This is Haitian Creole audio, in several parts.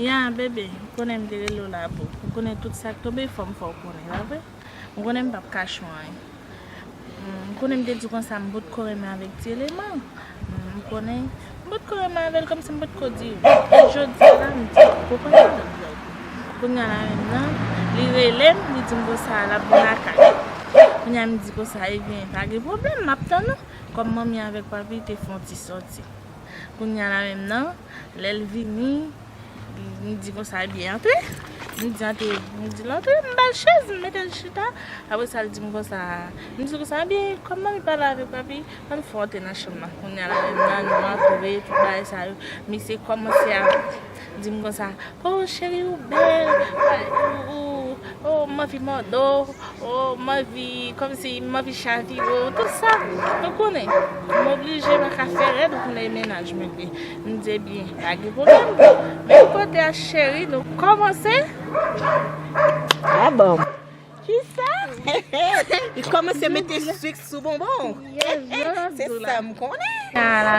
Ya, bebe, ou konnen m te rele w la boo. Ou konnen tout sa k tonbe fò m fè w konnen, pa vre? Ou konnen m pap kache w anyen. Ou konnen m te di w konsa m potko renmen avèk ti eleman. Ou konnen m potko renmen avè l kòm si m potko di w. Men jodi a la m di w. Ou konprann sa m vle di. Kounye a la menm nan, li rele m, li di m konsa l ap vin lakay. Kounye a m di konsa, ebyen pa gen pwoblèm, m ap tann ou. Kòm manmi avèk papi te fè yon ti sòti. Kounya la menm nan, lè l vini, m di konsa e byen antre. M di antre, li di l antre, m ba l chèz, m mete l chita. Apre sa l di m konsa, m di konsa e byen kòm manmi pale avèk papi, an n fè w antre nan chanm nan. Kounya la menm nan nou antre, tout bagay sa yo. Misye kòmanse ap. Dim konsa oh cheri ou bel oh m anvi mòde w oh m anvi kòmsi m anvi chavire w tout sa ou konnen m oblije pa ka fè rèd ou konnen e mennaj mwen vre m di ebyen pa gen pwoblèm men kote a cheri nou kòmanse. Kisa? Li komanse mete sucre sou bonbon. Se sa m konnen.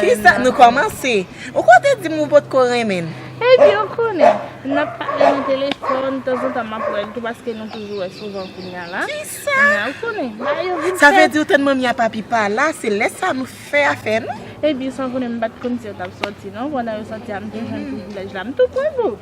Kisa nou komanse. Ou ko te di m ou pot ko renmen l. Epi ou konnen. N ap pale nan telefòn. Tanzantan m ap wè l tou paske nou toujou wè souvan kounya la. Kisa? Ou konnen. Bagay yo vin fèt. Sa vle di ou tann manmi a papi pa la. Se lè sa nou fè afè nou. Epi san konnen m pat konn si yo t ap sòti non. Pandan yo sòti a m te jwenn privilèj la. M tou pran gou.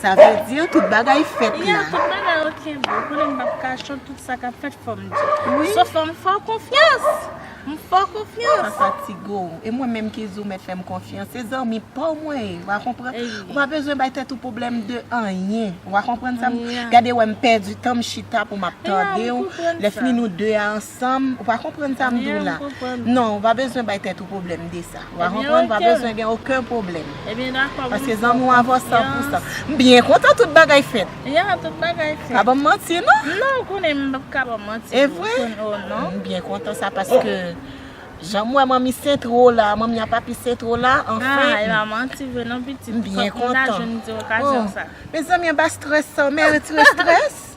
Sa vle di tout bagay fèt la. Wi, tout bagay ok boo. Konnen m pa p ka cho tout sa k ap fèt fò m di. Sof fò m fè w konfyans. M fè w konfyans. Pa fatige w. E mwen menm ki di w mèt fè m konfyans. Se zanmi pa w mwen ye. Wa konprann? Ou pa bezwen bay tèt ou pwoblèm de anyen. Wa konprann sa m. Gade wè m pèdi tan m chita pou m ap tande w. Lè fini nou 2 a ansanm. Sam, ou pa konprann sa m di w la. Non, ou pa bezwen bay tèt ou pwoblèm de sa. Ou a konprann, ou pa bezwen gen oken pwoblèm. Paske zanmi w avè w san pou san. M byen kontan tout bagay fèt. Ya, tout bagay fèt. Pa ban m manti non. Non, ou konnen m pap ka ban w manti. E vre? O non. M byen kontan sa paske jan m wè manmi sentro w la, manmi a papi sentro w la, anfen. A, e pa manti vre non pitit. M byen kontan. Fòk m ta jwenn ti okazyon sa. O, mezanmi anba strès sa w mèritire strès.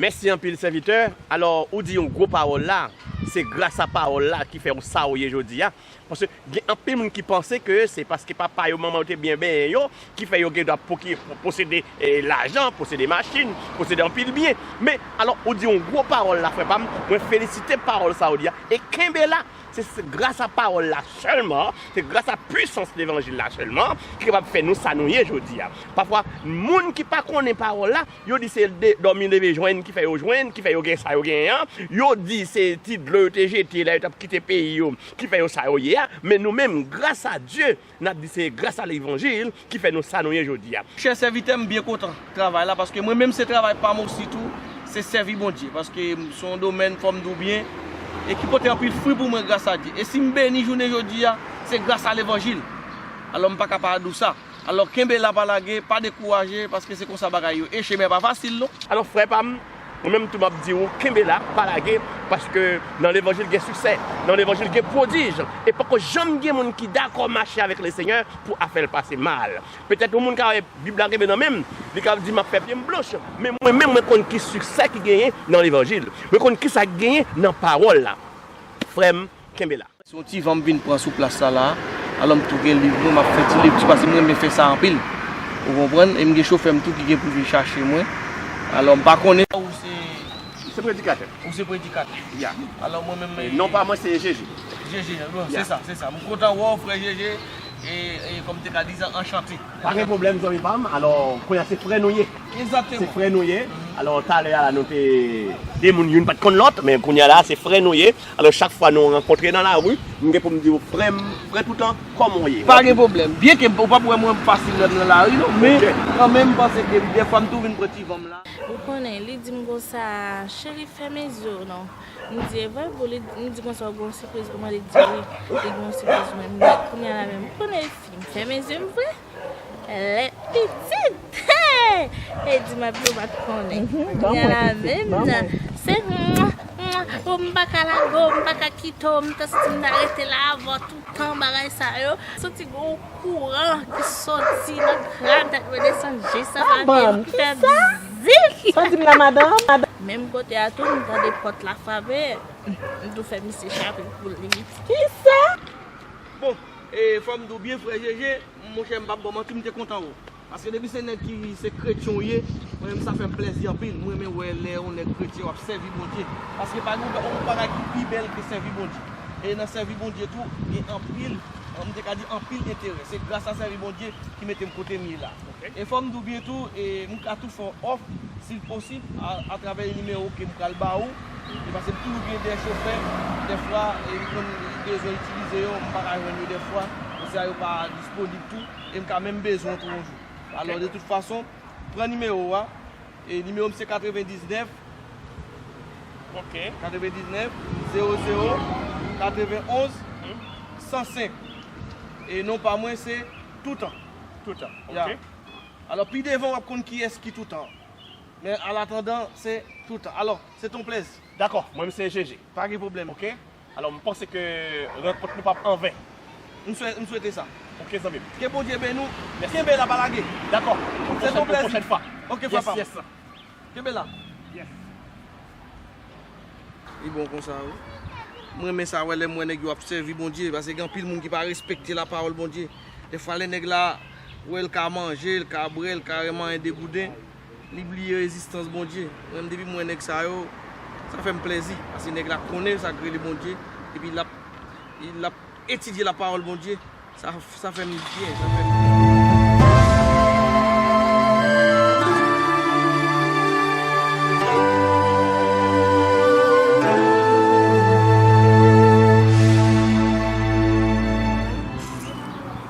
Mèsi anpil sèvitè, alò ou di yon gwo pawòl la, se gras a pawòl la ki fè ou sa ou ye jodi a, paske gen anpil moun ki panse ke se paske papa yo manman yo te byen benyen yo ki fè yo gen dwa posede lajan, posede machin, posede anpil byen, men alò ou di yon gwo pawòl la frè pam, mwen felisite pawòl sa ou di a, e kenbe la, se gras a pawòl la sèlman, se gras a pwisans levanjil la sèlman ki kapab fè nou sa nou ye jodi a, pafwa moun ki pa konnen pawòl la Yo di se dòmi leve jwenn ki fè yo jwenn, ki fè yo gen sa yo genyen an. Yo di se ti dlo yo te jete lè yo t ap kite peyi yo ki fè yo sa yo ye a. Men nou menm, grasa Dye, n ap di se grasa levanjil ki fè nou sa nou ye jodi a. Chè sèvitè, m byen kontan travay la paske mwen menm se travay pa m osi tou, se sèvi Bondye. Paske se yon domèn, kòm m di w byen, e ki pote anpil fwi pou mwen grasa Dye. E si m beni jounen jodi a, se grasa levanjil. Alò m pa ka pa di w sa. Alò kenbe la pa lage, pa dekouraje paske se konsa bagay yo ye, chemen an pa fasil non. Alò frè pa m, mwen menm tou m ap di ou kenbe la, pa lage, paske nan levanjil gen siksè, nan levanjil gen pwodij, e poko janm gen moun ki dakò mache avèk Lesenyè pou afè l pase mal. Petèt yon moun ka wè Bib la kenbe nan men m, li ka di m ap fè pye m blanch, men mwen menm mwen konn ki siksè ki genyen nan levanjil, mwen konn kisa ki genyen nan pawòl la. Frè m, kenbe la. Se yon ti van m vin pran sou plas sa la a. Alò m tou gen liv mwen, m ap fè ti lekti paske m renmen fè sa anpil. Ou konprann? E m gen chofè m tou ki gen pou vin chache mwen. Alò m pa konnen. Ou se. M se predikatè. Ou se predikatè. Ya. Alò mwen menm. Non pa mwen se Jeje. Jeje. Bon, se sa, se sa. M kontan wè w, frè Jeje. E, e kòm m te ka di sa, anchante. Pa gen pwoblèm, zanmi pa m. Alò, kounye a se frè nou ye. Egzakteman. Se frè nou ye. Alò, talè a la nou te. De moun, youn pa t konn lòt, men kounye a la a se frè nou ye. Alò chak fwa nou rankontre nan lari, m gen pou m di ou frè m, frè toutan, kòman w ye? Pa gen pwoblèm. Byen ke ou pap wè mwen fasil lè m nan lari non, men kan menm m panse ke dè fwa m tou vin pran ti van m la. Ou konnen, li di m konsa, Cheri fèmen zye w non. M di, E vre boo? Li di konsa, Ou gen yon sipriz pou mwen? Li di, Wi, li gen yon sipriz pou mwen. M di, Kounye a la menm, ou konnen e fi, m fèmen zye m vre? Lè pitit hee e di map di ou pat konnen Ban mwen pitit ban mwen se mwa mwa oh m pa ka lage w m pa ka kite w m ta santi m ta rete la avè w toutan bagay sa yo m santi gen yon kouran ki soti nan kran tèt mwen desann jis nan lavi m pa banm ki sa sa di m la madanm. Menm kote a tou m tande pòt la frape m tou fè misye chape pou li. Kisa? Bon E fòm di w byen frè jeje, monchè m pap baw manti m te kontan wè w. Paske depi se nèg ki se kretyen w ye, mwen menm sa fè m plèzi anpil. M renmen wè lè yon nèg kretyen wap sèvi Bondye. Paske pa gen yon bagay ki pi bèl ke sèvi Bondye. E nan sèvi Bondye tou gen anpil, m te ka di anpil enterè. Se gras a sèvi Bondye ki mete m kote m ye la. E fòm di w byen tou, e m ka tou fè w òf, si l posib, a travè yon nimewo ke m pral ba ou. E pase m toujou gen de chofè, dèfwa e m konn bezwen itilize yo, m pa ka jwenn yo dèfwa, konsèy a yo pa disponib tou, e m ka menm bezwen w tou yon jou. Alò de tout fason, pran nimewo a, e nimewo m se 99, 99, 00, 91, 105. E non pa mwen se Toutan. Toutan, ok. Alò pi devan w ap konn kiyès ki Toutan. Men alatandan, se toutan. Alò, se t on plezi. Dakò, mwen m se Jeje. Pa gen pwoblèm. Ok. Alò, m panse ke rankont nou p ap anven. M swè, m swete sa. Ok, zanmi m. Ke Bondye beni w. Mèsi. Kenbe la, pa lage. Dakò. Pou Se t on pwòchèn, pou plezi. pwòchèn fwa. Ok, frè pa m. Yes, yes. Kenbe la. Yes. Li bon konsa wi. M renmen sa wè lè m wè nèg yo ap sèvi Bondye pase gen anpil moun ki pa respekte lapawòl Bondye. Dèfwa lè nèg la wè l ka manje, l ka bwè, l ka renmen anyen degouden. Li bliye ezistans Bondye. Mwen menm depi m wè nèg sa yo, sa fè m plèzi. Paske nèg la konnen sa k rele Bondye, epi l ap l ap etidye lapawòl Bondye. Sa sa fè m byen, sa fè m byen.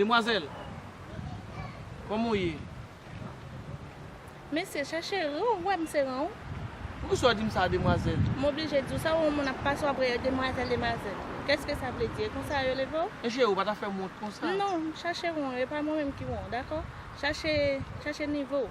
Demwazèl, kòman w ye? Mesye, chèche ran w, ou wè m se ran w? Poukisa w di m sa a, demwazèl? M oblije di w sa, ou wè moun ap pase w ap rele demwazèl, demwazèl. Kèske sa vle di? E konsa yo leve w? Mesye, ou pa ta fè m wont konsa. Non, chèche ran w, e pa mwen menm ki ran w, dakò? Chèche, chèche nivo w.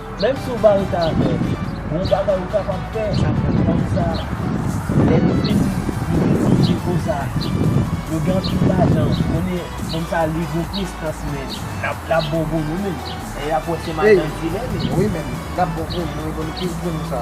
Menm si w pa rete avè l, gon bagay ou kapab fè ak fanm sa lè li fin li fin sou nivo sa yo gen anpil lajan konnen fanm sa li gon prestans men lap lap bon volum menm lè yap wè se madan kilè menm wi menm lap bon volum wi volum plis volum sa.